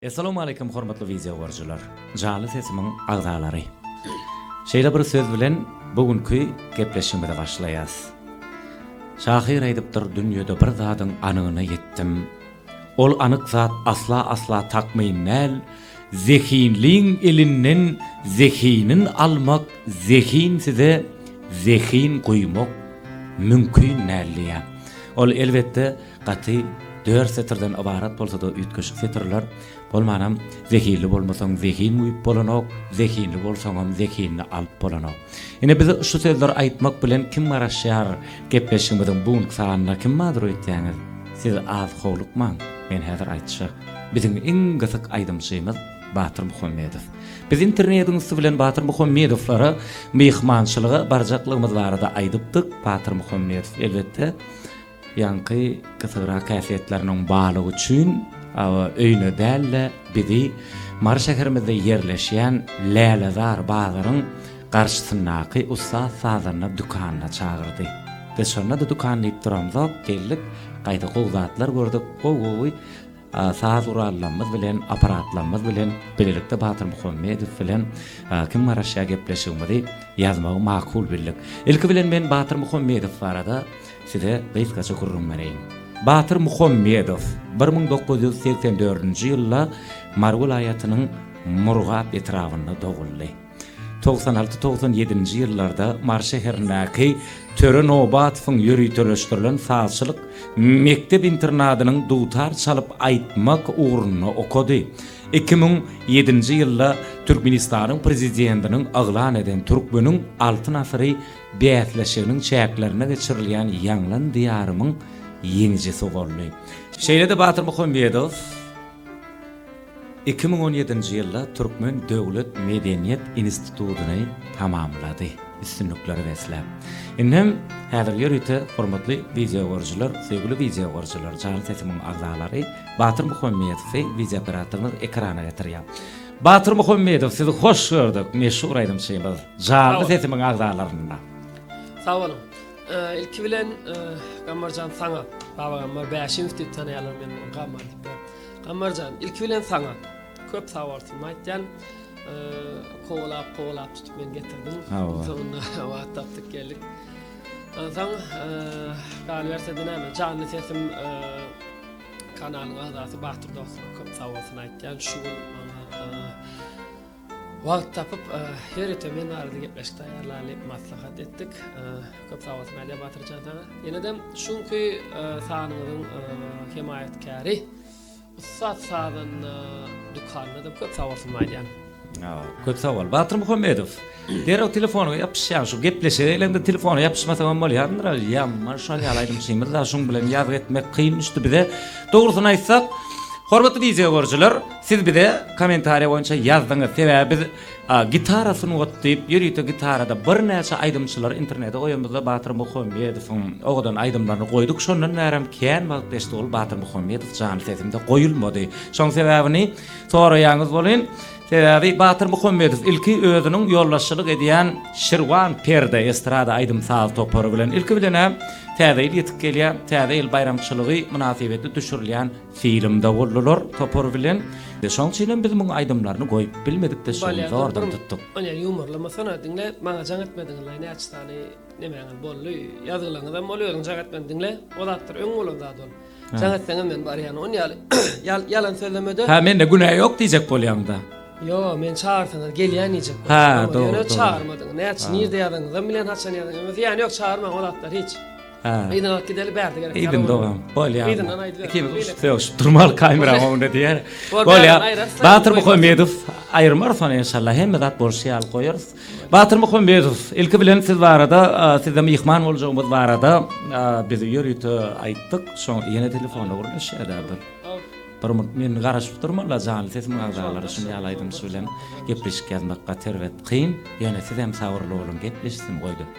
Essalawmaleýkum hormatly wideo görüjiler, janly sesimiň agzalary. Şeýle bir söz bilen bu günki gepleşigimize başlaýas. Şahyr aýdypdyr dünýede bir zadyň anygyna ýetdim. Ol anyk zat asla asla takmyn däl, zehinliň elinden zehinin almak zehin size zehin guýmak mümkin däl diýýär. Ol elbetde Gaty dört setirden ybarat bolsa-da üýtgeşik setirler, bolmanam Zehinli bolmasaň zehin guýup bolanok, zehinli bolsaňam zehinini alyp bolanok. Ine bize şu sözleri aýtmak bilen kim garaşýar? Gepleşigimiziň bu günki sanyna kim mazur öýtýäňiz? Siz az howlukmaň, men häzir aýtjak. Biziň iň gysyk aýdymçymyz Batyr Muhammedow. Biz internetiň üsti bilen Batyr Muhammedowlara myhmançylyga barjaklygymyz barada aýdypdyk. Batyr Muhammedow, elbetde, Ýaňky gysygyrak häsiýetleriniň barlygy üçin awa öýüne däl-de, bizi Mary şäherimizde ýerleşýän Lälezar bazaryň garşysyndaky Ussat sazanda dükanyna çagyrdy. Biz şonda-da dükan diýip duramzok, geldik, gaýta gowy zatlar gördük, gowy-gowy Saz gurallarymyz bilen, apparatlarymyz bilen bilelikde Batyr Muhammedow bilen kim garaşýar gepleşigimizi ýazmagy makul bildik. Ilki bilen men Batyr Muhammedow barada size gysgaça gürrüň bereýin. Batyr Muhammedow bir müň dokuz ýüz segsen dördünji ýylda Mary welaýatynyň Murgap etrabynda doguldy. Togsan alty-togsan ýedinji ýyllarda Mary şäherindäki Töre Nobatowyň ýöriteleşdirilen sazçylyk mekdep-internadynyň dutar çalyp aýtmak ugrunda okady. Iki müň ýedinji ýylda Türkmenistanyň Prezidentiniň yglan eden Türkmeniň Altyn asyry bäsleşiginiň çäklerinde geçirilýän Ýaňlan Diýarymyň ýeňijisi boldy. Şeýle-de Batyr Muhammedow. Iki müň on ýedinji ýylda Türkmen döwlet medeniýet institutyny tamamlady, üstünliklere besläp. Indi hem häzir ýörite hormatly wideogoryjylar, söýgüli wideogoryjylar, jan sesimiň agzalary Batyr Muhammedowy wideooperatorymyz ekrana getirýär. Batyr Muhammedow sizi hoş gördük, meşhur aýdymçymyz, janly sesimiň agzalarynda. Sag boluň. Ilki bilen Gammarjan saňa, Baba Gammar Bäşimow diýip tanaýarlar meni, Gammar diýip. Gammarjan ilki bilen saňa köp sag bolsun aýtýan kowalap kowalap tutup men getirdim soňunda wagt tapdyk geldik onsoň galyberse näme janly sesim kanalyň agzasy batyr dostuma köp sag bolsun aýtýan şu gün maňa Wagt tapyp her ýete men arada gepleşik taýýarlalyp maslahat etdik. Köp sag bolsun Aliýa Batyrjan saňa. Ýenedem şu günki sanyňyzyň hemaýatkäri Ussat sazanda dükanynadam köp sag bolsun aýdýan. Köp sag bol. Batyr Muhammedow. Derrew telefonyňa ýapyşýan şu gepleşige geleňde telefona ýapyşmasaňam bolýandyr Aliýam. Maňa şol ýaly aýdymçymyz bar şuň bilen ýazgy etmek kyn düşdi bize. Dogrusyny aýtsak hormatly wideo görüjiler. Siz bize kommentariýa boýunça ýazdyňyz, sebäbi biz Gitara sungat diýip, ýörite gitarada birnäçe aýdymçylary internete goýanymyzda Batyr Muhammedowyň owadan aýdymlaryny goýduk, şondan bärem kän wagt geçdi, ol Batyr Muhammedow janly sesinde goýulmady. Şoň sebäbini soraýaňyz welin, sebäbi Batyr Muhammedow ilki özüniň ýolbaşçylyk edýän Şirwan Perde estrada aýdym-saz topary bilen ilki bilen-ä Täze ýyl ýetip gelýär, Täze ýyl baýramçylygy mynasybetli düşürilýän Film dowullylar topary bilen. Şoň üçin hem biz muň aýdymlaryny goýup bilmedik de şuny zordan tutduk. Onyar ýumorlamasana diňle maňa jaň etmediňizlaý näçe sany nemäňiz boldy ýazgylaňyzam ol özüň jaň etmän diňle o zatlar öň bolan zat ol jaň etseňem men barýan on ýaly ýal ýalan sözlemede. Hä mende günä ýok diýjek bolýaňda. Ýo men çagyrsaňyz gelýän diýjek bolýan. Hä dogry dogry. Ýöne çagyrmadyň näçe nirde ýazaňyzam bilýän haçan ýazaňyzam zyýany ýok çagyrmaň o zatlar hiç. Hä. Yzyna alyp gideli bärde gerek. Yzyn dogam. Bolýa. Yzyndan aýdyber. Ikimiz uşup sögüşip durmaly kamera öňünde diýer. Bolýa. Batyr Muhammedow aýyrmarys ony inşallah. Hemme zat bolşy ýaly goýarys. Batyr Muhammedow ilki bilen siz barada sizde myhman boljagymyz barada biz ýörite aýtdyk. Şoň ýene telefona gürleşýärler. Bir munt men garaşyp durman la janly sesiň agzalary şuny ýaly aýdymçy bilen gepleşik ýazmak gaty erbet kyn. Ýöne sizem sabyrly boluň gepleşsin goýdy.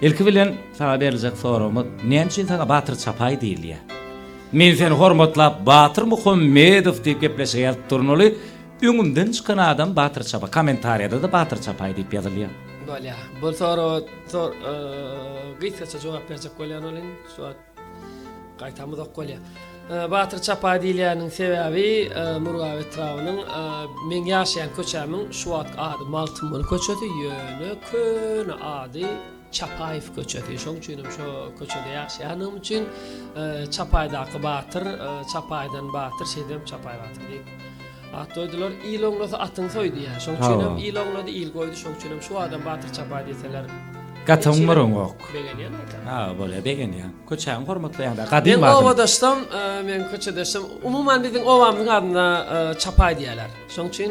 Ilki bilen saňa beriljek soragymyz, näme üçin saňa Batyr Çapaý diýilýär? Men seni hormatlap Batyr Muhammedow diýip gepleşige ýazyp durnaly, öňümden çykan adam Batyr Çapa, kommentariýada-da Batyr Çapaý diýip ýazylýar. Bolýar. Bu soraga gysgaça jogap berjek bolýan welin, şu wagt Gaýtam uzak bolýa. Batyr çapaý diýilýäniniň sebäbi Murgap etrabynyň meň ýaşaýan köçämiň şu wagt ady Magtymguly köçesi ýöne köne ady Çapaýew köçesi şoň üçinem şo köçede ýaşaýanlygym üçin Çapaýdaky Batyr Çapaýdan Batyr şeýdibem Çapaý Batyr diýip At doýdular, il oňlasa atyň soý diýýär. Şoň üçin hem il oňlady, il goýdy, şoň üçin hem şu adam batyr çapaý diýseler. Gaty oňmaryňok. Begenýän aýtam. Ha, bolýar, begenýän. Köçäňi hormatlaýaňda, gadymy adam. Men obadaşsam, men köçedeşsem, umuman biziň obamyzyň adyna çapaý diýýärler. Şoň üçin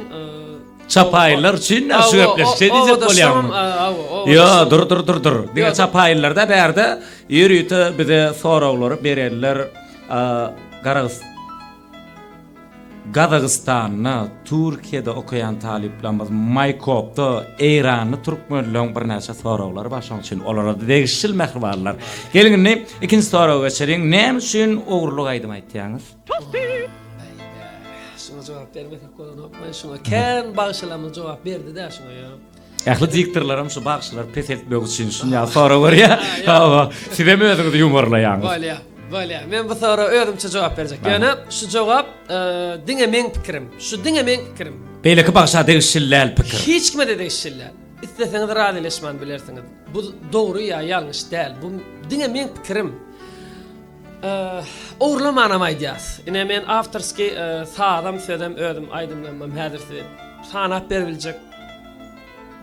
Çapaýlar üçin näçe gepleşse diýjek bolýarmy? Ýa, dur, dur, dur, dur. Diňe çapaýlarda bärde ýörite bize soraglary berenler Garagystan Gazagystanda, Türkiýede okaýan talyplarymyz Maýkopda eýranly türkmenleň birnäçe soraglary bar, şonuň üçin olara-da degişli mähribanlar. Geliň indi ikinji soraga geçeliň, näme üçin ogurlyk aýdym aýtýaňyz? Şuňa jogap bermesek bolanokmy? Şuňa kän bagşylarymyz jogap berdi-dä şuňa ýa. Ähli diktorlaram şu bagşylary peseltmek üçin şunýaly sorag berýär. Hawa, siz hem özüňizi ýumorlaýaňyz. Bolýa, bolýa. Men bu soraga özümçe jogap berjek. Ýöne şu jogap e, diňe meň pikirim. Şu diňe meň pikirim. Beýleki bagşa degişli däl pikir. Hiç kime-de degişli däl. Isleseňiz razylaşman bilersiňiz. Bu dogry ýa ýalňyş däl. Bu diňe meň pikirim. Ogurlamanam aýdýas. Ine men awtorskiý sazam sözem özüm aýdymlanmam häzir size sanap beribiljek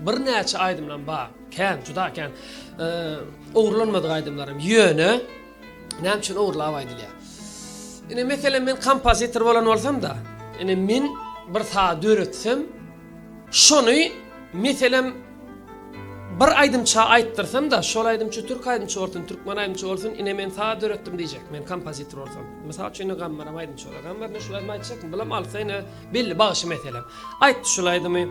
birnäçe aýdymlam bar. Kän, juda kän. Ogurlanmadyk aýdymlarym. Ýöne näme üçin ogurlap aýdylýar? Ine meselem men kompozitor bolan bolsam-da, ine men bir saz döretsem, Şony, meselem, bir aýdymça aýtdyrsam-da, şol aýdymçy türk aýdymçy bolsun, türkmen aýdymçy bolsun, ine, men saz döretdim diýjek, men kompozitor bolsam. Mysal üçin, indi Gammaram aýdymçy bolsa, Gammar, ine, şul aýdymy aýtjakmy? Bulam alsa, ine, belli bagşy, meselem, aýtdy şul aýdymy.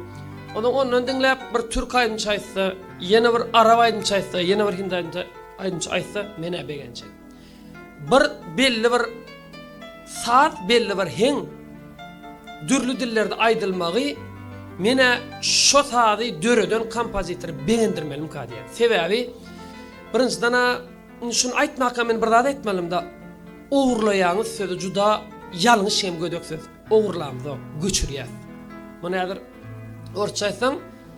Onsoň ondan diňläp, bir türk aýdymçy aýtsa, ýene bir arap aýdymçy aýtsa, ýene bir hindi aýdymçy aýdymçy aýtsa, men-ä begenjek. Bir belli bir saz belli bir heň dürli dillerde aýdylmagy menä şo sazy döreden kompozitory begendirmelimka diýýän. Sebäbi birinjidena indi şuny aýtmaka men bir zat aýtmalymda ogurlaýaňyz sözi juda ýalňyş hem gödek söz. Ogurlamzok, göçürýäs. Muny häzir orsça aýtsaň,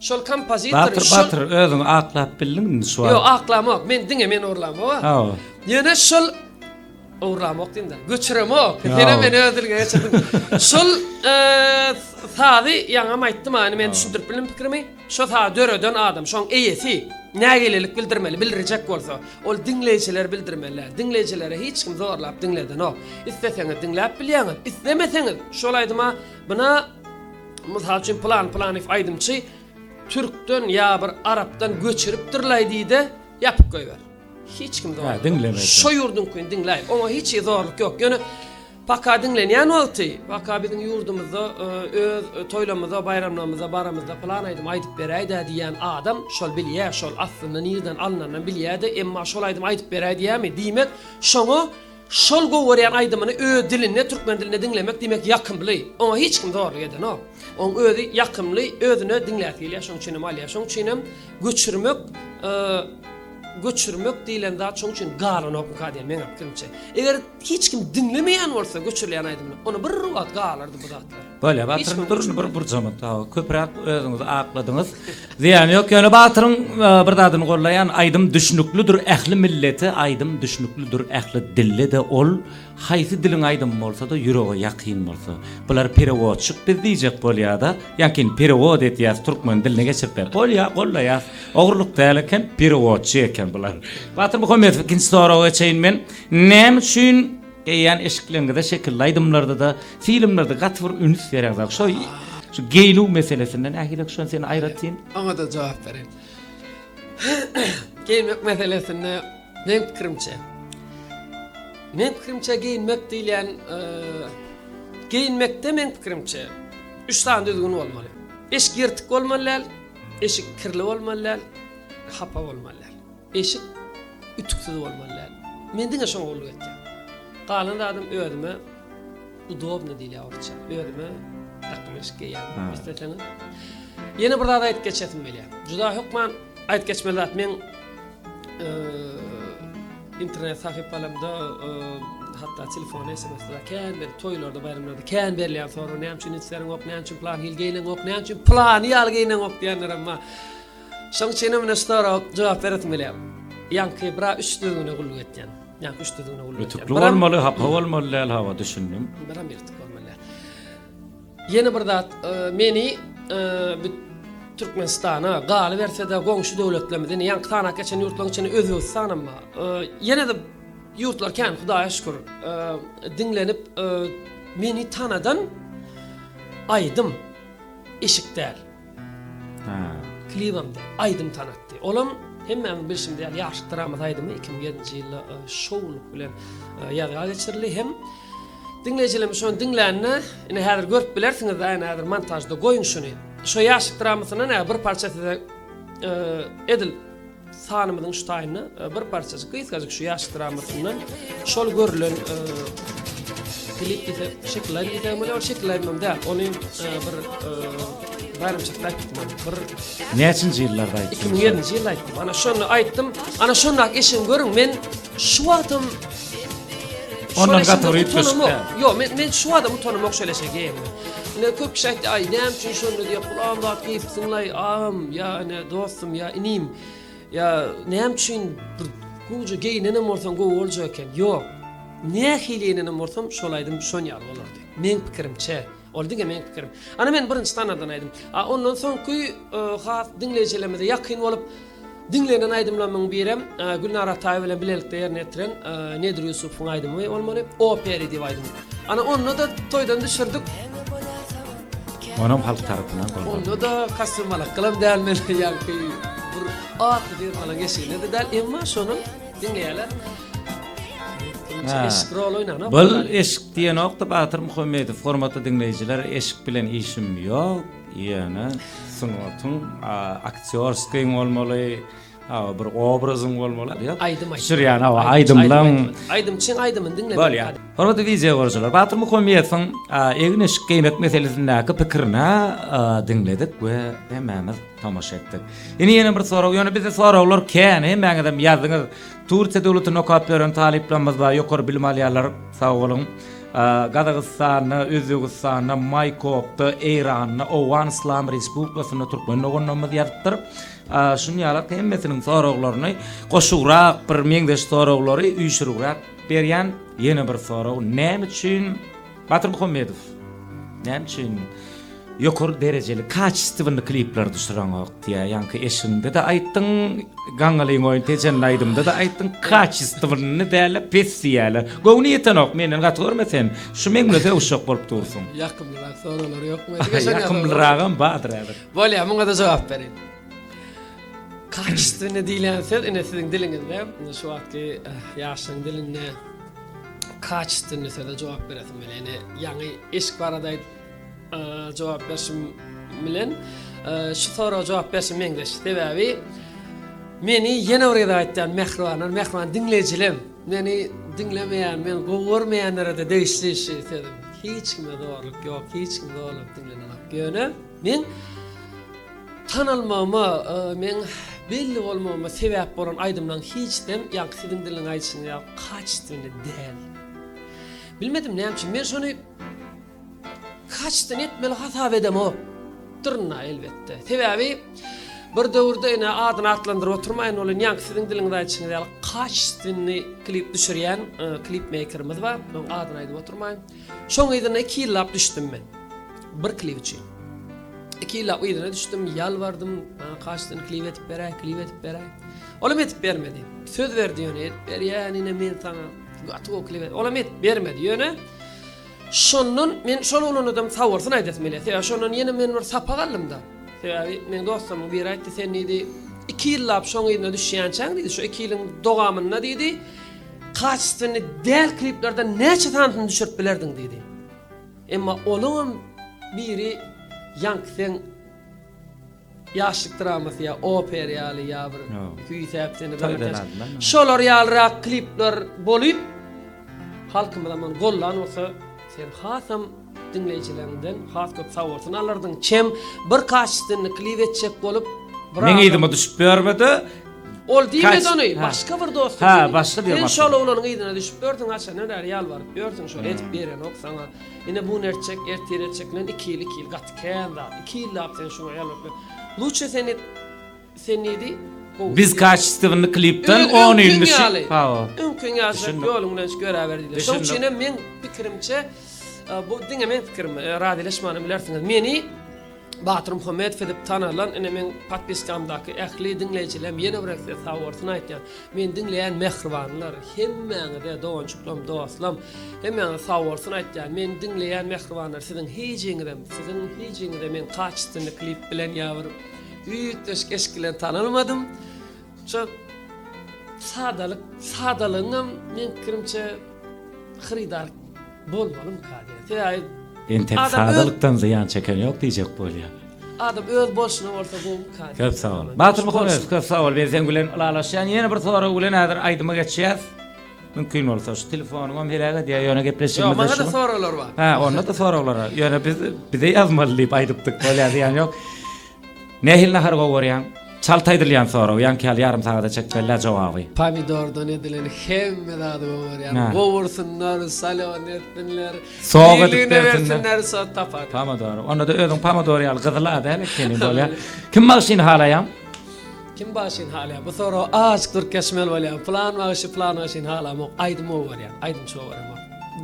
Şol kompozitor Batyr batyr özüňi aklap bildiň indi şu wagt. Ýok aklamok men diňe men orlamok. Hawa. Ýöne şol Owramok diýdim. Göçüremok. Seni men ödülge geçirdim. Şol e, sazy ýaňam aýtdym hani men düşündirip bildim pikrimi. Şo sazy döreden adam, şoň eýesi nägilelik bildirmeli, bildirjek bolsa, ol diňleýjiler bildirmeli. Diňleýjilere hiç kim zorlap diňledenok. Isleseňiz diňläp bilýäňiz, islemeseňiz şol aýdyma buna Mysal üçin pylan pylanyf aýdymçy türkden ýa bir arapdan göçüripdirlaý diýde ýapyp goýber. Hiç kim zorluk. Ha diňlemez. Şo ýurduňkyny diňläý. Oňa hiç ýer zorluk ýok. Ýöne paka diňlenýän wagty, paka biziň ýurdumyzda e, öz e, toýlamyza, baýramlarymyza baramyzda pylan aýdym aýdyp beräýdä diýýän adam şol bilýä, şol aslynda nirden alnandan bilýä-de, emma şol aýdym aýdyp beräý diýämi? Diýmek, şoňa Şol gowarýan aýdymyny öz dilinde türkmen dilinde diňlemek diýmek ýakymly. Oňa hiç kim zorluk edenok. Oň özi ýakymly, özüne diňläsi gelýär şoň üçinem alýar. Şoň üçinem göçürmek göçürmek diýlen zat şoň üçin galanokmyka diýen meň pikirimçe. Eger hiç kim diňlemeýän bolsa göçürilýän aýdymyny, onda bir wagt galardy bu zatlar. Bolýa Batyryň durşy bir burjama tawa köpräk özüňizi akladyňyz. Zyýany ýok ýöne Batyryň bir zadyny gollaýan aýdym düşnüklidir ähli millete aýdym düşnüklidir ähli dillede ol haýsy diliň aýdymy bolsada ýürege ýakyn bolsa. Bular perewodçik biz diýjek bolýada ýakyn perewod edýäs türkmen diline geçiripler. Bolýa gollaýas. Ogurlyk däl eken perewodçi eken bular. Batyr Muhammedow ikinji soraga geçeýin men. Näme üçin Geýýän eşikleňize şekilli aýdymlarda-da, filmlerde gaty bir üns bereňiz aga. Şo şu geýnüw meselesinde nähilek şony sen aýratyn? Oňa-da jogap bereýin. Geýinmek meselesinde meň pikirimçe, meň pikirimçe geýinmek diýilýän, geýinmekde meň pikirimçe üç sany düzgün bolmaly. Eşik ýyrtyk bolmaly däl, eşik kirli bolmaly däl, hapa bolmaly däl. Eşik ütüksiz bolmaly däl. Men diňe şoňa gulluk etýän. Galan zadym özüme udobny diýilýär orsça. Özüme dakym eşik geýýän. Isleseňiz. Ýene bir zat aýdyp geçesim gelýär. Juda hökman aýdyp geçmeli zat. Men internet sahypalarymda hatda telefona sms-de kän bir toýlarda, baýramlarda kän berilýän sorag näme üçin ünslerin ok, näme üçin plan hil geýneňok, näme üçin plany ýaly geýneňok diýenlerem bar. Şoň üçinem ine şu soraga jogap beresim gelýär. Ýaňky bir-a üç düzgüne gulluk etýän. Ýaňky üç düzgüne gulluk etýän. Ütükli bolmaly, hapa bolmaly däl, hawa, düşündim. Biram ýyrtyk bolmaly däl. Ýene bir zat, meni bu Türkmenistana, galyberse-de goňşy döwletlerimize, ine ýaňky sanap geçen ýurtlaryň içinde Özbegistanam bar. Ýene-de ýurtlar kän, Hudaýa şükür, diňlenip meni tanadan aýdym eşik däl. Klibam däl, aýdym tanatdy. Olam, hemmämiň bilşimiz ýaly, Ýaşlyk dramasy aýdymy iki müň ýedinji ýylda şowlulyk bilen ýazga geçirildi hem diňleýjilerimiz şony diňlände, ine, häzir görüp bilersiňiz-ä, ine, häzir montažda goýuň şuny. Şo Ýaşlyk dramasyndan-a bir parça size edil Sanymyzyň şu taýyna bir parçajyk gysgajyk şu ýaş dramasyndan şol görülen klip diýse şekiller diýse bolýar, şekiller hem däl. Ony bir baýramçylyk aýtdym. Bir Näçinji ýyllarda aýtdym? 2007-nji ýylda aýtdym. Ana şonda aýtdym. Ana şonda eşiň görüň men Şu wagtam Ondan gaty bir üýtgeşik däl. Ýok, men men şu adam utanamok şeýle şey geýemde. Ine köp kişi aýtdy, aý näme üçin şonda diýip gulam zat geýipsiňlaý, agam ýa ine dostum ýa inim. Ýa näme üçin bir gowja geýnenem bolsaň gowy boljak eken. Ýok. Nähili geýnenem bolsam şol aýdym şon ýaly bolardy. Meň pikirimçe. Ol diňe meň pikirim. Ana men birinji tanardan aýdym. A ondan soňky e, has diňleýjilerimize ýakyn bolup diňlenen aýdymlarymyň birem e, Gülnar Ataýewa bilen bilelikde ýerine ýetiren e, Nedir Ýusufowyň aýdymy bolmaly. Operi diýip aýdym. Ana onda da toýdan düşürdik. Onam halk tarapyndan goldaw. Onda da kostüm alak kylym däl men ýagky bir atly bir ala geçilmedi däl. Emma şonuň Bul eşik diýenokda Batyr Muhammedow hormatly diňleýjiler eşik bilen işim ýok ýöne sungatyň aktýorskiý bolmaly Awa bir obrazyň bolmaly. Ýok. Aýdym aýt. Şirýan awa aýdymlaň. Aýdymçyň aýdymyny diňlemek. Bolýar. Hormatly wideýa görüjiler, Batyr Muhammedowyň egin eşik geýmek meselesindäki pikirini diňledik we hemmämiz tomaşa etdik. Indi ýene bir sorag, ýöne bizde soraglar kän, hemmäňizem ýazdyňyz. Turkiýa döwletinde okap ýören talyplarymyz bar, ýokary bilim alýarlar, sag boluň. Gazagystanda, Özbegistanda, Maýkopda, Eýranda, Owgan Yslam Respublikasynda türkmen doganlarymyz ýazypdyr. Şuny ýalak hemmesiniň soraglaryny goşugrak bir meňzeş soraglary üýşürigräk berýän. Ýene bir sorag, näme üçin Batyr Muhammedow näme üçin ýokary derejeli kaçestwny klipler düşüreňok diýýär. Ýaňky eşiňde-de aýtdyň, Gaňňalyň oýun tejenli aýdymda-da aýtdyň, kaçestwny dälä pes diýýärler. Göwni ýetenok menden gaty görme sen. Şu meňle sögüşjek bolup dursuň. Ýakymlyrak soralar ýokmy? Ýakymlyragam bardyr häzir. Bolýar, muňa-da jogap bereýin. Kaçestwny diýlen söz ine siziň diliňizde, şu wagtky ýaşlaryň dilinde kaçestwny söze jogap beresim gelýär. Ýani ýaňy eşik barada aýdyp jogap berşim bilen şu soraga jogap berşim meňzeş. Sebäbi meni ýene bir gezek aýtýan mähribanlar, mähriban diňleýjilem meni diňlemeýän, meni gowy görmeýänlere-de degişli şu sözüm. Hiç kime zorluk ýok, hiç kim zorlap diňlenenok. Ýöne Meň tanalmagyma, meň belli bolmagyma sebäp bolan aýdymlaň hiçsem ýaňky siziň diliniň aýdyşynyň ýaly kaçitwini däl. Bilmedim näme üçin men şony kaçitwini etmeli hasap edemok. Dyrna elbetde. Sebäbi bir döwürde ene adyny atlandyryp oturmaýyn bolan ýaňky siziň diliňiz aýdyşyňyz ýaly kaçitwini klip düşürýän klip meýkerimiz bar. Onuň adyny aýdyp oturmaýyn. Şoň yzyna iki ýyllap düşdüm men. Bir klip üçin. Iki ýyllap yzyna düşdüm, ýalbardym, maňa kaşdan klip edip beräý, klip edip beräý. Olam edip bermedi. Söz berdi ýöne edip berýän ine men saňa. Gaty gowy klip. Olam edip bermedi. Ýöne şondan men şol oglanadam saborsyn aýdasym gelýär. Sebäbi şondan ýene men bir sapak aldymda. Sebäbi meň dostlarymyň biri aýtdy, sen diýdi, iki ýyllap şoň yzyna düşýänçäň diýdi, şu iki ýylyň dogamynda diýdi, Kacestwenli däl kliplerden näçe sanysyny düşürip bilerdiň diýdi. Emma olaňam biri Ýankseň ýaşlyk dramasy ýa oper ýaly ýa bir küýsäp seni daňyltýan. Şolar ýalyrak klipler bolup halkymyzam ony gollan bolsa sen hasam Diňleýjileriňden has köp sawurtyn alardyň. Çem bir kaşitini klip etjek bolup bir Meň yzyma düşüp bermedi. Ol diýmedi ony, başga bir dostum. Ha, başga bir dostum. Sen şol oglanyň yzyna düşüp berdiň, haçandan bäri ýalbaryp ýörsüň, şol edip berenok saňa. Ine bu nerçek, ertir etjek bilen 2 ýyl, 2 ýyl gaty kän zat. 2 ýyllap sen şuňa ýalbaryp. Luçe sen et. Sen neydi? Biz kaçistewini klipden on ýyl düşüp. Öňküň ýaşap ýoluňdan şu göräber diýdi. Şoň üçin hem men pikirimçe bu diňe men pikirim, razylaşmany bilersiňiz. Meni Batyr Muhammedow edip tanalan, ine men podpiskamdaky ähli diňleýjilem ýene bir esse sag bolsun aýtýan. Men diňleýän mähribanlar, hemmäňize dogançyklarym, dostlam, hemmäňize sag bolsun aýtýan. Men diňleýän mähribanlar siziň hijiňizem, siziň hijiňizem men kaçistewini klip bilen ýa bir Üýtgeşik eşik bilen tanalmadym. Şu sadalyk, sadalygyňam men pikirimçe hyrydar bolmalyň kady. Sebäbi Entek sadalykdan zyýan çeken ýok diýjek bolýar. Adam öz bolşuna bolsa gowy kady. Köp sag bol. Batyr Muhammedow köp sag bol. Biz seň bilen ylalaşýan. Ýene bir sorag bilen häzir aýdyma geçýäs. Mümkin bolsa şu telefonymam heläk edýär ýöne gepleşigimiz. Ýok, maňa-da soraglar bar. Hä, onda-da soraglar bar. Ýöne biz bize ýazmaly diýip aýdypdyk, bolýar zyýan ýok. Nähili nahar gowy görýäň? Çalt aýdylýan sorag, ýaňky ýaly ýarym sagada çek bellä jogaby. Pomidordan edilen hemme zady gowy görýän. Gowursunlar, salon etsinler. Soga bersinler, so tapar. Pomidor. Onda-da özüň pomidor ýaly gyzyl-a däl ekeni bolýar. Kim bagşyny halaýaň? Kim bagşyny halaýar? Bu soragy aç dürkeşmeli bolýar. Plan bagşy plan bagşyny halamok. Aýdym gowy barýar. Aýdym şow barýar.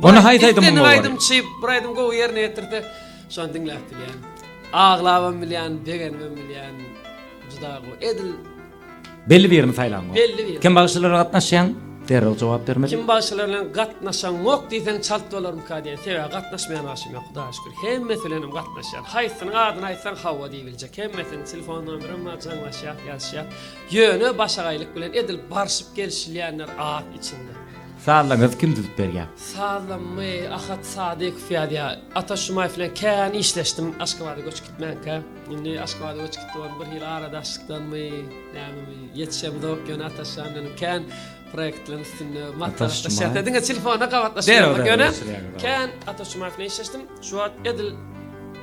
Ony haýsy aýdym gowy barýar? Aýdym çyp, bir aýdym gowy ýerine ýetirse, şony diňläp bilýän. Aglabam bilýän, begenibem bilýän. Juda gowy. Edil Belli birini saýlaň. Belli birini. Kim bagşylara gatnaşýaň? Derrew jogap bermeli. Kim bagşylar bilen gatnaşaňok diýseň çalt bolarmyka diýen. Sebäbi gatnaşmaýan bagşym ýok, Hudaýa şükür. Hemmesi bilen hem gatnaşýan. Haýsynyň adyny aýtsaň hawa diýip. Eje hemmesini telefondandyram majaňlaşýar, ýazyşýar. Ýöne başagaýlyk bilen edil barşyp gelişilýänler az içinde. Sazlaňyzy kim düzüp berýär? Sazlamy Ahat Sadykow ýazýar. Ata Şumaýew bilen kän işleşdim Aşgabada göçüp gitmänkä. Indi Aşgabada göçüp gitdi boldy bir hili aradaşlykdanmy, nämemi, ýetişemzok, ýöne Ataşjan bilen kän proýektlaryň üstünde maslahatlaşýas. Şumaýew. Ýa diňe telefonda gabatlaşýarys. Derrew, derrew Ýöne geçirýäňiz, awa. kän Ata Şumaýew bilen işleşdim. Şu wagt edil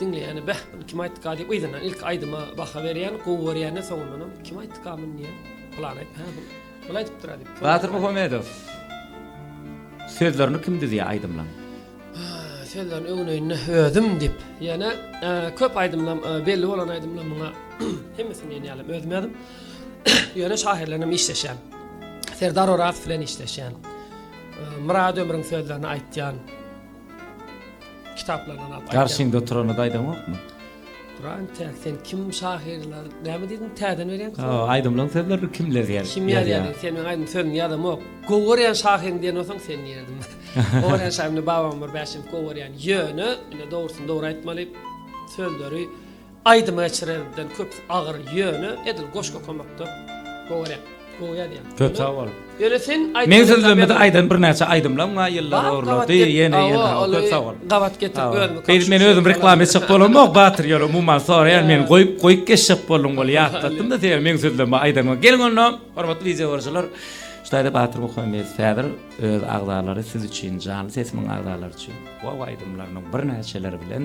Diňleýäne bäh muny kim aýtdyka diýip yzyndan ilki aýdyma baha berýän, gowy görýän-de soňundanam kim aýtdyka muny diýýän. Pylan aýdyp hä bu muny aýdypdyra diýip. Batyr Muhammedow Sözlerini kim düzýär aýdymlaň? Sözlerini öňüne-ýnüne özüm diýip ýene köp aýdymlam belli bolan aýdymlam muňa hemmesini diýen ýalam özüm ýazdym. Ýöne şahyrlarnam işleşýän. Serdar Orazow bilen işleşýän. Myrat Ömrüň sözlerini aýtýan. kitaplaryndan alyp aýdýan. Garşyňda oturana-da aýdaňokmy? Duran täk sen kim şahyrlar näme diýdiň täzeden berýän sen. Hawa aýdymlaň sözlerini kim ýazýar? Kim ýazýar sen meň aýdym sözüni ýazamok. Gowy görýän şahyryň diýen bolsaň sen diýerdim. Gowy görýän şahyryň babam bir bäşim gowy görýän ýöne ine dogrusyny dogry aýtmaly sözleri Aýdymy geçirenimden köp agyr ýöne edil goşgy okamakda gowy rep. Gowy ýazýaň. Köp sag bol. Ýöne sen aýdym. Meň sözlemede aýdan birnäçe aýdymlaň bar ýyllar orlady ýene ýene ha köp sag bol. Gabat getirip özümi. Beýdip men özüm reklama etjek bolamok Batyr ýöne umuman soraýan men goýup goýup geçjek boldum ol ýatlatdym da seni meň sözleme aýdanyňa geliň onda hormatly wideo görüjiler şu taýda Batyr Muhammedow häzir öz agzalary siz üçin janly sesimiň agzalary üçin gowy aýdymlarynyň birnäçeleri bilen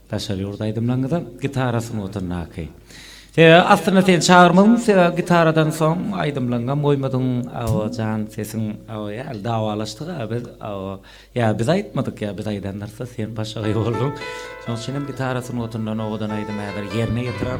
Daşary ýurt aýdymlaňyza gitara sungatyndaky. Sebäbi aslynda seni çagyrmadym sebäbi gitaradan soň aýdymlaňňam goýmadyň awa jan sesiň awa ýaly dawalaşdyk a biz awa ýa biz aýtmadyk ýa biz aýdandyrsda sen başagaý bolduň şoň üçinem gitara sungatyndan owadan aýdym häzir ýerine ýetirer.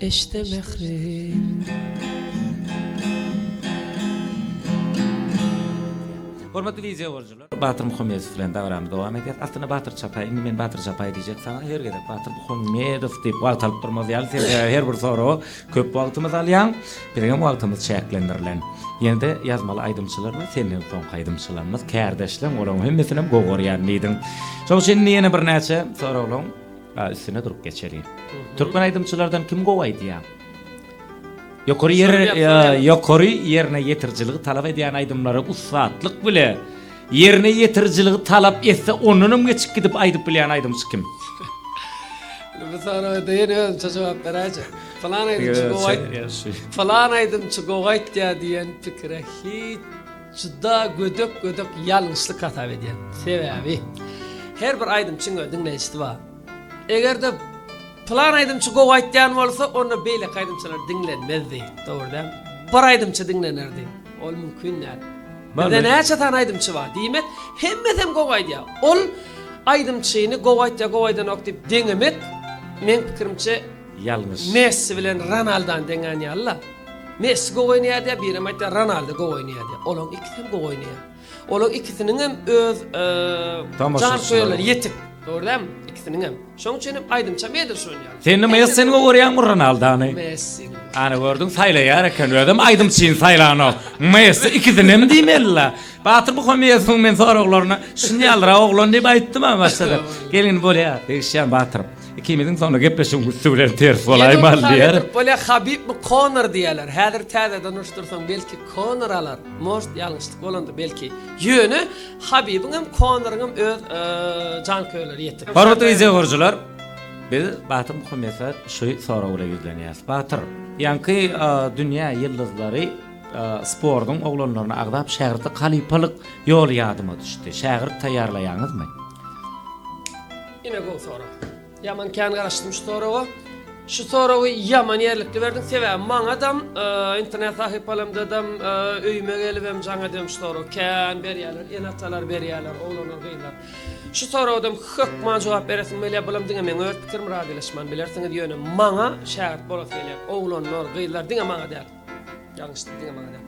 Eşde mährim. Hormatly wideýo görüjiler! Batyr Muhammedow bilen dabarany dowam edýäs. Aslynda Batyr Çapaý, indi men Batyr Çapaý diýjek saňa, her gezek Batyr Muhammedow diýip wagt alyp durmaz ýaly, sen sebäbi her bir soraga köp wagtymyzy alýaň, biziňem wagtymyz çäklendirilen. Ýene-de ýazmaly aýdymçylar we senden soňky aýdymçylarymyz, kärdeşleň, olaryň hemmesinem gowy görýärin diýdiň. Şoň üçin indi ýene birnäçe soraglaryň. A üstüne durup geçeliň. Türkmen aýdymçylardan kim gowy aýdýa? Ýokary ýer ýokary ýerine ýetirijiligi talap edýän aýdymlary ussatlyk bile ýerine ýetirijiligi talap etse ondanam geçip gidip aýdyp bilýän aýdymçy kim? Bu soraga deýin özümçe jogap beräýje. Pylan aýdymçy gowy aýt. Pylan aýdymçy gowy aýdýa diýen pikire hiç Juda gödek gödek ýalňyşlyk hasap edýän. Sebäbi her bir aýdymçyň öz diňleýjisi bar. Egerde plan aýdymçy gowy aýtýan bolsa onda beýleki aýdymçylar diňlenmezdi. Dogry däl. Bir aýdymçy diňlenerdi. Ol mümkin däl. Bizde näçe sany aýdymçy bar. Diýmek hemmesem gowy aýdýar. Ol aýdymçyny gowy aýtýar gowy aýdanok diýip deňemek meň pikirimçe Ýalňyş. Messi bilen Ronaldany deňän ýalyla. Messi gowy oýnaýar diýýär, birem aýtýar Ronaldo gowy oýnaýar diýýär. Olaň ikisi hem gowy oýnaýar. Olaň ikisiniň hem öz janköýerleri ýetik. Dogry dälmi? Ikisiniň hem. Şoň üçin hem aýdymça meýdin şoň ýaly. Sen näme Messini gowy görýäňmi Ronaldony? Messi. Ana gördüň saýlaýar eken özem aýdymçyny saýlanok. Messi ikisini hem diýmelila. Batyr Muhammedowyň men soraglaryna şuny ýalyra oglan diýip aýtdym a başda da. Gelin bolýar degişýän Batyr. Ikimiziň soňra gepleşigiň üsti bilen ters bolaýmaly diýer. Bolýar Habibmi Konor diýerler. Häzir täzeden uruşdyrsaň belki Konor alar. Most ýalňyşlyk bolandyr belki. Ýöne Habibiň hem Konoryň hem öz janköýerleri ýetik. Hormatly wideo görüjiler, biz Batyr Muhammedova şu sorag bilen ýüzlenýäris. Batyr, ýaňky dünýä ýyldyzlary sportuň oglanlaryny agzap şägirtlik halypalyk ýoly ýadyma düşdi. Şägirt taýýarlaýaňyzmy? Ine gowy sorag. Ýaman kän garaşdym şu soraga. Şu soragy ýaman ýerlikli berdiň. Sebäbi maňadam e, internet sahypalarymdadam e, öýüme gelip hem jaň edýän şu soragy kän berýärler. Ene-atalar berýärler, oglanlar, gyzlar. Şu soragam hökman jogap beresim gelýär. Bulam diňe meň öz pikirim razylaşman bilersiňiz. Ýöne maňa şägirt bolasy gelýär. Oglanlar, gyzlar diňe maňa däl. Ýalňyş diýdim maňa.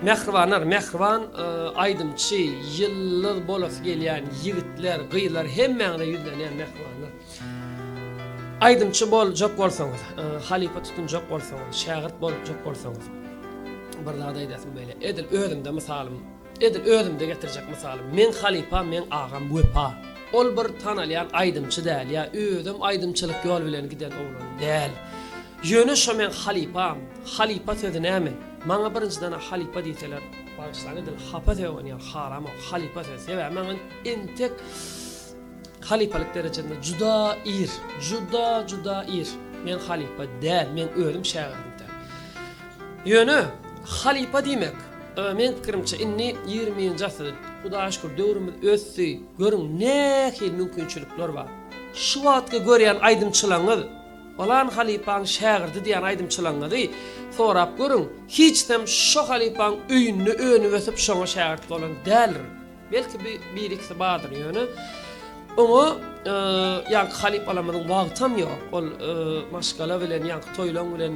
Mähribanlar, mähriban aýdymçy, ýyldyz bolasy gelýän ýigitler, gyzlar hemmäňize ýüzlenýän mähribanlar. Aýdymçy boljak bolsaňyz, halypa tutunjak bolsaňyz, şägirt boljak bolsaňyz, bir zat aýdasyň beýle. Edil özümde mysalym Edil özümde getirjek mysalym. Meň halypam meň agam Wepa. Ol bir tanalýan aýdymçy däl ýa özem aýdymçylyk ýol bilen giden oglan däl. Ýöne şo meň halypam. Halypa sözi näme? Maňa birinjidena halypa diýseler, bagyşlaň edil hapa sögünýär, haramok halypa sözi. Sebäbi maňa entek halypalyk derejesinde juda ir, juda juda ir. Men halypa däl, men özüm şägirdiň däl. Ýöne, halypa diýmek, meň pikirimçe, indi ýigriminji asyr, Hudaýa şükür, döwrümiz ösdi, görüň, nähili mümkinçilikler bar. Şu wagtky görýän aýdymçylaňyz, Palan halypaň şägirdi diýýän aýdymçylaňyzy sorap görüň, hiçsem şo halypaň öýünde önüp-ösüp şoňa şägirt bolan däldir. Belki bir bir ikisi bardyr ýöne oňa ýaňky halypalarymyzyň wagtam ýok. Ol maşgala bilen ýaňky toýlaň bilen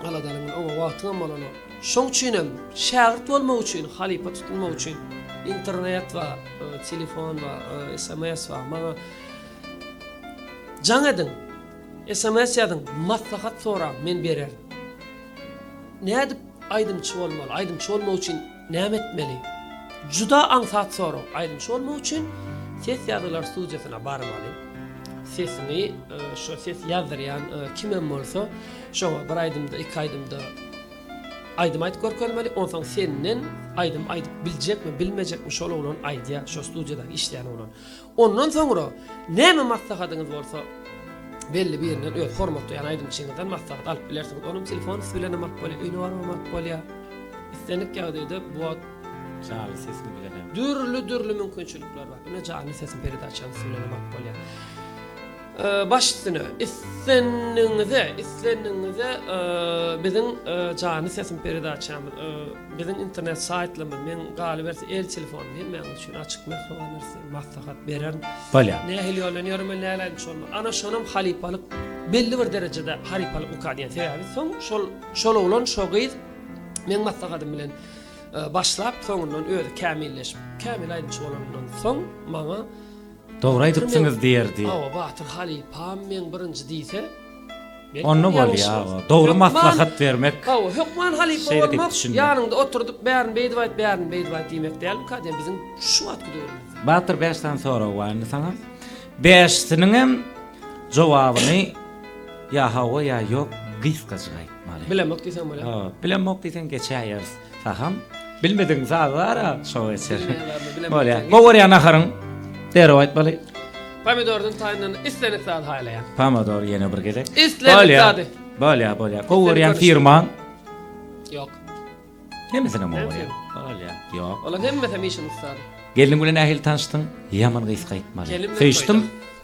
aladalyň oňa wagtyňam bolanok. Şoň üçin hem şägirt bolmak üçin, halypa tutunmak üçin internet we telefon we sms we maňa jaň ediň, sms ýazyň, maslahat soraň, men bererin. Nädip aýdymçy bolmaly? Aýdymçy bolmak üçin Näme etmeli? Juda aňsat sorag. Aýdymçy bolmak üçin ses ýazgylar studiýasyna barmaly. Sesiňi şo ses ýazdyrýan kimem bolsa, şoňa bir aýdymda, iki aýdymda aýdym aýdyp görkezmeli. Onsoň senden aýdym aýdyp biljekmi, bilmejekmi şol oglan aýdýar, şo studiýadaky işleýän oglan. Ondan soňra näme maslahatyňyz bolsa, belli birinden, öz hormat duýan aýdymçyňyzdan maslahat alyp bilersiňiz. Onuň telefony siz bilenem alyp bolýar, öýüne baranam alyp bolýar. Islendik ýagdaýda bu wagt Janly sesini bilenem. Dürli-dürli mümkinçilikler bar. Ine, janly sesiň peredaçany siz bilenem alyp bolýar. Baş üstüne, islendigiňize, islendigiňize biziň janly sesiň peredaçamyz, biziň internet saýtlarymyz, meň galyberse el telefon diýen, mäňiz üçin açyk, mähriban. Maslahat beren. Bolýar. Nähili ýol bilen ýörmeli, nähili aýdyp şonda. Ana şonam halypalyk belli bir derejede halypalyk uka diýen sebäbi soň şol şol oglan şo gyz meň maslahatym bilen e, başlap soňundan özi kämilleşip kämil aýdyjy bolanyndan soň maňa Dogry aýdypsyňyz diýerdi. Awa Batyr halypam meň birinji diýse Onda bolýar. Dogry maslahat bermek. Hawa, hökman halypa bolmak, ýanyňda oturdyp bärini beýdip aýt, bärini beýdip aýt diýmek dälmika diýen biziň şu wagtky döwrümizde. Batyr bäş sany sorag bar indi saňa. Bäşisiniň hem jogabyny ýa hawa ýa ýok gysgajyk aýtmaly. Bilemok diýseň bolýar. Hawa, bilemok diýseň geçäýeris. Saham bilmediň saz bara şo geçer. Bolýa. Gowarýa naharyň. Derrew aýtmaly. Pomidordan taýyndan islenik zat haýlaýan. Pomidor ýene bir gezek. Islenik zady. Bolýa, bolýa. Gowarýa firman. Ýok. Hemesine gowarýa. Bolýa. Ýok. Olar hemmesi işin ustady. Gelniň bilen nähili tanşdyň? Ýaman gysga aýtmaly. Söýüşdim.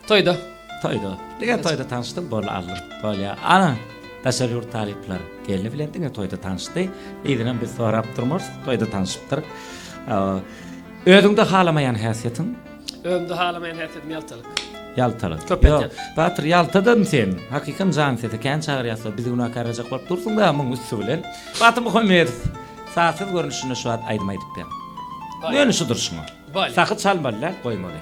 Toýda. Toýda. Diňe toýda tanşdym, bol aldyr. Bolýa. Ana, daşary ýurt talyplary gelni bilen diňe toýda tanşdy. Ýeňem biz sorap durmarys, toýda tanşypdyr. Özüňde halamaýan häsiýetiň? Özümde halamaýan häsiýetim ýaltalyk. Ýaltalyk. Köp etýän. Batyr ýaltadym sen. Hakykam jan sesi kän çagyrýarsa bizi günä karajak bolup dursuň da muň üsti bilen. Batyr Muhammedow sazsyz görnüşinde şu wagt aýdym aýdyp ber. Ýöne şu durşuňa. Sahy çalmaly däl, goýmaly.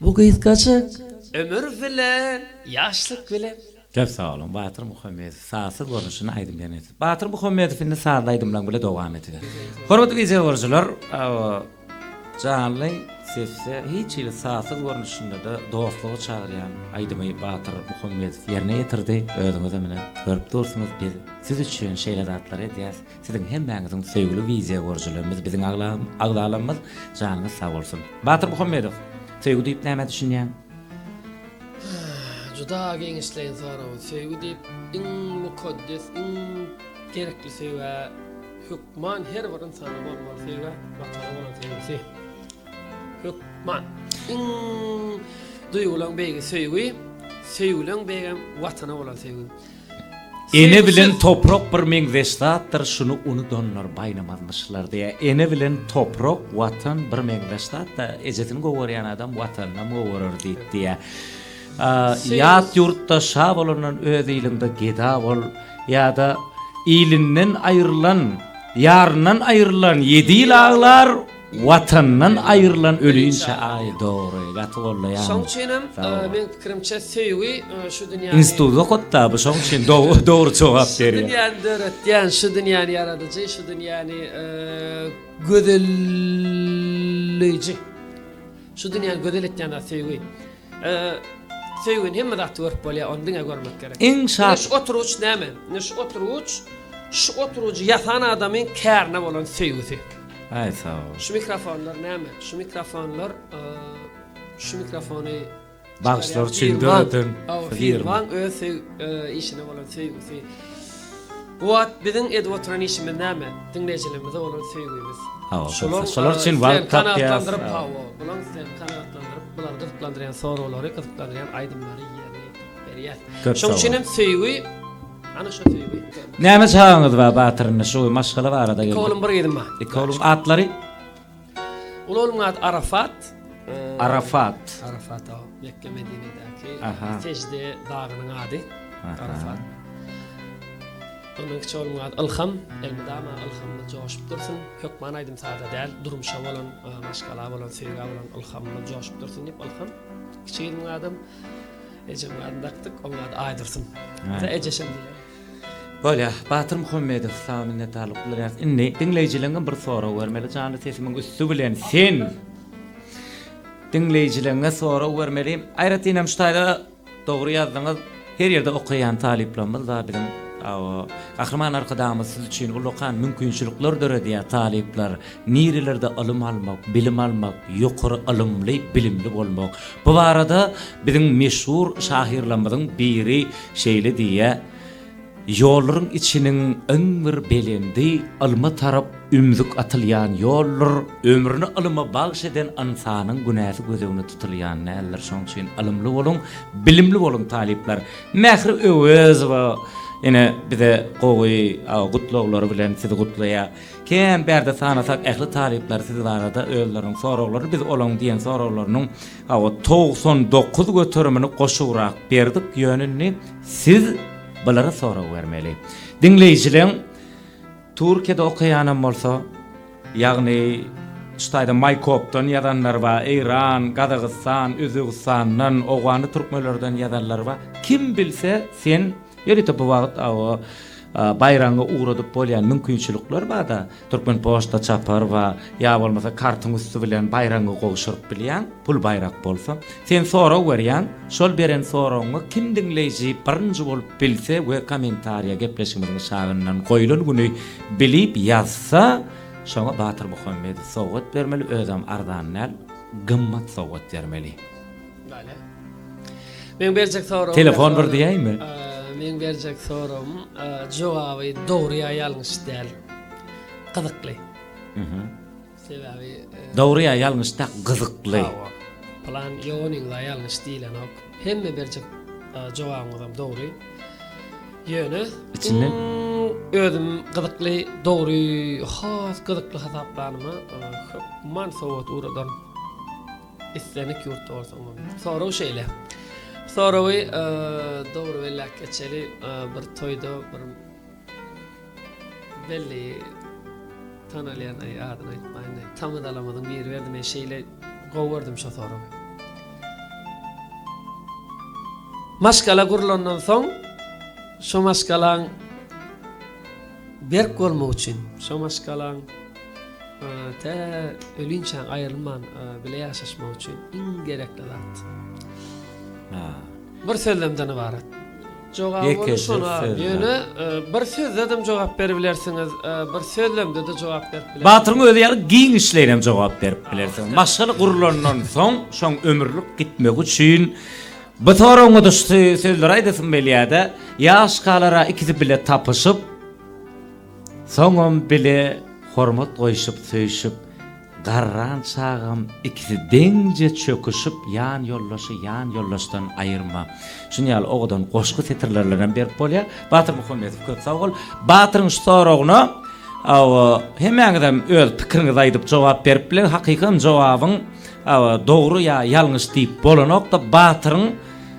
Bu gysgajyk ömür bilen ýaşlyk bilen. Köp sag boluň Batyr Muhammedow sazsyz görnüşinde aýdym beýan etdi. Batyr Muhammedow indi sazly aýdymlaň bile dowam ediber. Hormatly wideo görüjiler abo janly sesde hiç hili sazsyz görnüşindede dostluga çagyrýan aýdymy Batyr Muhammedow ýerine ýetirdi özüňizem ine görüp dursuňyz biz siz üçin şeýle zatlar edýäs. Siziň hemmäňiziň söýgüli wideýo görüjilerimiz biziň agzalarymyz janyňyz sag bolsun. Batyr Muhammedow söýgi diýip nämä düşünýäň? Juda giňişleýin sorag. Söýgi diýip iň mukaddes iň gerekli söýgä hökman her bir ynsanda bolmaly söýgä Watana bolan söýgüsi. Hökman iň duýgulan beýgi söýgi, söýgülen beýgem Watana bolan söýgi. Ene bilen toprak bir meňzeş zatdyr, şuny unudanlar baýnamazmyşlar diýýär. Ene bilen toprak, Watan bir meňzeş zat-da, ejesini gowy görýän adam Watanynam gowy görer diýip diýýär. Ýat ýurtda şa bolandan öz iliňde geda bol ýa-da ilinden aýrylan, ýaryndan aýrylan ýedi ýyl aglar, Watandan aýrylan ölünçe aý dogry gaty gollaýan. Şoň üçinem meň pikirimçe söýgi şu dünýäni. Institut okatda bu şoň üçin dogry jogap berýär. Şu dünýäni döretýän şu dünýäni ýaradyjy şu dünýäni gözelleýji. Şu dünýäni gözel etýän zat söýgi. Söýgini hemme zatda görüp bolýar, ony diňe görmek gerek. Iň şat. Şu oturgyç näme? Ine şu oturgyç şu oturgyjy ýasan adamyň kärine bolan söýgüsi. Aý sagbol. Şu mikrofonlar näme? Şu mikrofonlar şu mikrofony Bagşylar üçin döreden firma. Öz işine bolan söýgüsi. Bu wagt biziň edip oturan işimiz näme? Diňleýjilerimize bolan söýgimiz. Hawa, köpler şolar üçin wagt tapýas. Hawa, bulaň isleýän kanagatlandyryp, bulary gyzyklandyrýan soragulary, gyzyklandyrýan aýdymlary ýerine ýetirip berýär. Şoň üçin hem söýgi, ana şo söýgi. Näme çagaňyz bar Batyr indi şu maşgala barada geldik. Iki oglum bir gyzym bar. Iki oglum atlary? Ol onuň ady Arafat. Arafat. Arafat o. Mekge Medinedäki Sejde dagynyň ady. Arafat. Onuň kiçi oglunyň ady Ilham. Elmydama Ilhamda joşup dursun. Hökman aýdym sada däl. Durmuşa bolan, maşgala bolan, söýgä bolan Ilhamda joşup dursun diýip Ilham. Kiçi gyzynyň adym Ejem adyny dakdyk. Onuň ady Aýdursun. Ejesem diýýär. Bolýa, Batyr Muhammedow, saňa minnetdarlyk bildirýäs. Indi diňleýjileriňe bir sorag bermeli, janly sesimiň üsti bilen sen diňleýjileriňe sorag bermeli. Aýratyn hem şu taýda dogry ýazdyňyz. Her ýerde okaýan talyplarymyz bar biziň. Hawa, Gahryman Arkadagymyz siz üçin ullakan mümkinçilikler döredýär, talyplar. Nirelerde ylym almak, bilim almak, ýokary ylymly, bilimli bolmak? Bu barada biziň meşhur şahyrlarymyzyň biri şeýle diýýär, Ýollaryň içiniň iň bir belendi, ylma tarap ümzük atylýan ýoldur. Ömrüni ylyma bagyş eden ynsanyň günäsi göz öňüne tutulýan däldir. Şonuň üçin ylymly boluň, bilimli boluň talyplar. Mähri Öwezowa ine bize gowy gutlaglary bilen sizi gutlaýar. Kän bärde sanasak ähli talyplar siz barada özleriniň soraglaryny biz olaň diýen soraglarynyň hawa togsan dokuz göterimini goşurak berdik ýöne indi siz bulara sorag bermeli. Diňleýjileň Türkiýede okaýanam bolsa ýagny şu taýda Maýkopdan ýazanlar ba Eýran, Gazagystan, Özbegistandan, Owgany türkmelerden ýazanlar ba kim bilse sen Ýörite bu wagt awa baýragyňy ugradyp bolýan mümkinçilikler barda Türkmenpoçta çapar we ýa bolmasa kartyň üsti bilen baýragyňy gowşuryp bilýäň, pul baýrak bolsa. Sen sorag berýäň, şol beren soragyňy kim diňleýji birinji bolup bilse we kommentariýa gepleşigimiziň aşagyndan goýlan güni bilip ýazsa, şoňa Batyr Muhammedow sowgat bermeli, özem arzan däl, gymmat sowgat bermeli. Telefon bir diýäými? Meň berjek soragym jogaby dogry ýa ýalňyş däl. Gyzykly. Sebäbi Dogry ýa ýalňyş däl, gyzykly. Plan ýoganyň ýa ýalňyş diýlenok. Hemme berjek jogabyňyz hem dogry. Ýöne içinden özüm gyzykly, dogry, has gyzykly hasaplanyma köp man sowat uradan. Islendik ýurtda bolsaň bolýar. Sorag şeýle. Soragy dogry belläp geçeli, bir toýda bir belli tanalýan, aý adyny aýtmaýyn, tamadalamyzyň biri berdi, men şeýle gowy gördüm şo soragy. Maşgala gurlandan soň, şo maşgalaň Berk bolmak üçin. Şo maşgalaň tä ölinçä aýrylman bile ýaşaşmak üçin iň gerekli zat. Bir sözlemden ybarat. Jogabyny şona al. Ýöne bir sözledem jogap beribilersiňiz, bir sözlemdede jogap berip bilersiňiz. Batyryň özi ýaly giňişleýinem jogap berip bilersiňiz. Maşgala gurlandan soň şoň ömürlik gitmegi üçin. Bu soragyňa duşusy sözleri aýdasym belýäde, ýaş galara ikisi bile tapyşyp, soňam bile hormat goýşup söýşüp, garran çagam ikisi deňje çöküşip ýan ýoldaşy ýan ýoldaşdan aýyrma. Şun ýaly owadan goşgy setirlerlenem berip bolýa. Batyr Muhammedow köp sag bol. Batyryň şu soragyna hemmäňizem öz pikiriňizi aýdyp jogap berip bileň, hakykam jogabyň Dogry ýa ýalňyş diýip bolanokda batyryň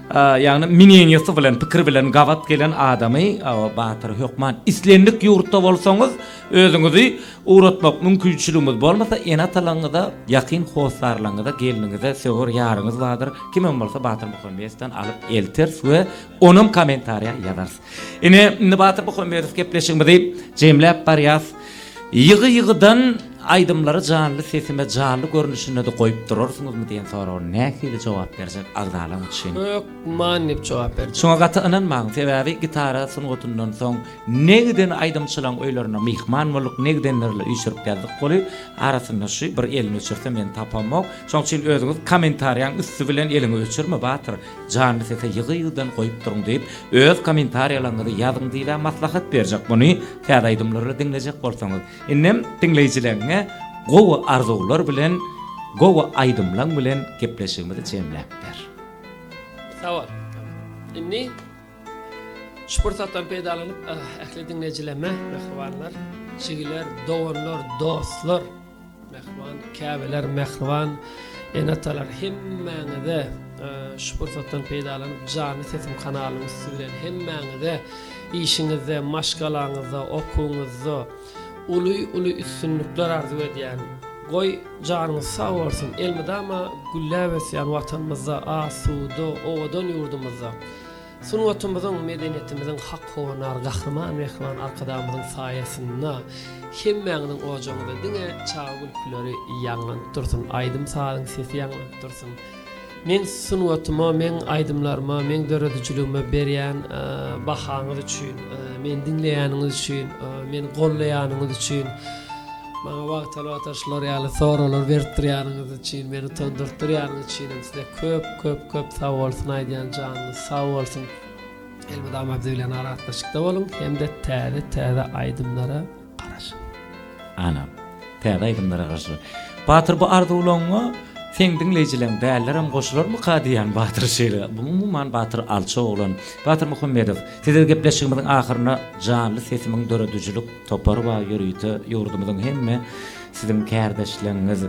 ýagny mineňesi bilen pikir bilen gabat gelen adamy batyr hökman islendik ýurtda bolsaňyz özüňizi ugratmak mümkinçiligiňiz bolmasa ene atalaňyza ýakyn hossarlaňyza gelniňize söwer ýaryňyz bardyr kimem bolsa batyr muhammedsdan alyp elters we onam komentariýa ýazars. Ine, indi Batyr Muhammedow gepleşigimizi jemläp barýas. Ýygy-ýygydan aýdymlary janly sesime janly görnüşinde-de goýup durarsyňyzmy diýen soraga nähili jogap berjek agzalaň üçin? Hökman diýip jogap berjek. Şoňa gaty ynanmaň, sebäbi gitara sungatyndan soň ne giden aýdymçylaň öýlerine myhman bolduk, ne gidenlerle üýşürip geldik goly, arasynda şu bir elini öçürse meni tapamok. Şoň üçin özüňiz kommentariýaň üsti bilen eliňi öçürme Batyr. Janly sese ýygy-ýygydan goýup duruň diýip öz kommentariýalaňyzy ýazyň diýibä maslahat berjek muny täze aýdymlary diňlejek bolsaňyz. Indem diňleýjileňňe gowy arzuwlar bilen gowy aýdymlaň bilen gepleşigimizi jemläp ber. Sagbol. Indi şu pursatdan peýdalanyp ähli diňleýjilemme mähribanlar jigiler doganlar dostlar. Mähriban käbeler, mähriban ene-atalar hemmäňize şu pursatdan peýdalanyp Janly sesim kanalynyň üsti bilen hemmäňize işiňizde, maşgalaňyzda, okuwyňyzda uly-uly üstünlikler arzuw edýän. Goý, janyňyz sag bolsun, elmydama gülläp ösýän Watanymyzda, asuda, owadan ýurdumyzda. Sungatymyzyň, medeniýetimiziň hak howanary Gahryman Mähriban Arkadagymyzyň saýasynda hemmäňiziň ojagyňyzda diňe çaga gülküleri ýaňlanyp dursun, aýdym-sazyň sesi ýaňlanyp dursun. Meň sungatyma, meň aýdymlaryma, meň döredijiligime berýän bahaňyz üçin, meni diňleýäniňiz üçin, meni gollaýanyňyz üçin. Maňa wagtal-wagtal şular ýaly soraglar beripdirýäniňiz üçin, meni utandyrtdyrýanyňyz üçin hem size köp, köp, köp sag bolsun aýdýan, janyňyz sag bolsun. Elmydama biz bilen aragatnaşykda boluň hem-de täze, täze aýdymlara garaşyň. Ana, täze aýdymlara garaşyň. Batyr bu arzuwlaryňa seň diňleýjileň bälilerem goşularmyka diýýän Batyr şeýle. Bu umuman Batyr alçak oglan. Batyr Muhammedow, sizle gepleşigimiziň ahyryna janly sesimiň döredijilik, Topar baý ýörite ýurdumyzyň hemme siziň kärdeşleňňiz,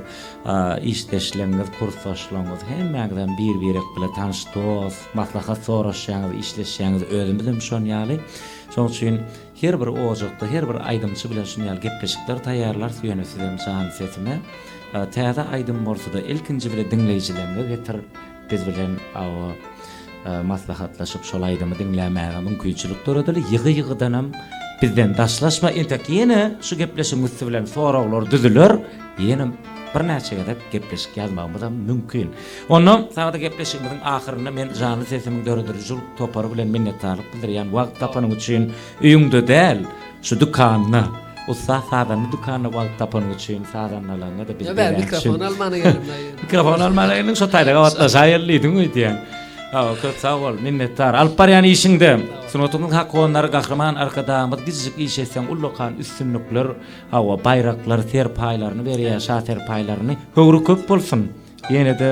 işdeşleňňiz, kursdaşlaňňyz hemmäňizem bir birek bile tanş dos, maslahat soraşýaňyz, işleşýaňyz özümizem şon ýaly. Şoň üçin her bir ojakda her bir aýdymçy bilen şun ýaly gepleşikler taýýarlarys ýöne sizem jan sesime täze aýdym bolsada ilkinji bile diňleýjileňňe getir. Biz bilen awa maslahatlaşyp şol aýdymy diňlämäge mümkinçilik döredeli. Ýygy-ýygydanam bizden daşlaşma. Entek ýene şu gepleşigiň üsti bilen soraglar düzüler. Ýene birnäçe gezek gepleşik ýazmagymyzam mümkin. Onda saňa-da gepleşigimiziň ahyrynda men Janly sesimiň döredirijilik topary bilen minnetdarlyk bildirýän. Wagt tapanyň üçin öýüňde däl. Şu dükanda, ussat sazanda dükanda wagt tapanyň üçin, sazandalaryňa-da biz beýle etjek. Ýa, mikrofon almana geldim daýy. Mikrofon almana geldim, şo taýda gabatlaşaýyl diýdim öýdýän. Sag bol, köp sag bol, minnetdar. Alyp barýan işiňde, sungatyň hakonary Gahryman Arkadagymyz gijijik iş etseň ullakan üstünlikler, hawa, baýraklar, serpaýlaryny berýär, şa serpaýlaryny. Höwri köp bolsun! Ýene-de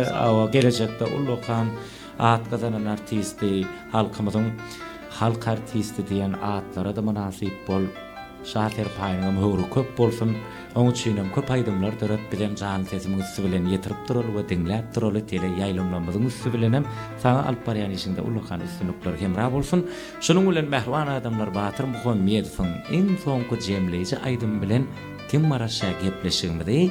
gelejekde uly okan, at gazanan artisti, halkymyzyň halk artisti diýen atlara-da mynasyp bol. Şa serpaýyňam höwri köp bolsun. Oň üçinem köp aýdymlar döret, bizem janly sesiň üsti bilen ýetirip duraly we diňläp duraly, tele ýaýlymlarymyzyň üsti bilenem. Saňa alyp barýan işiňde uly okan üstünlikler hemra bolsun. Şunuň bilen Mähriban adamlar Batyr Muhammedowyň iň soňky jemleýji aýdymy bilen kim Maraşa gepleşigimizi.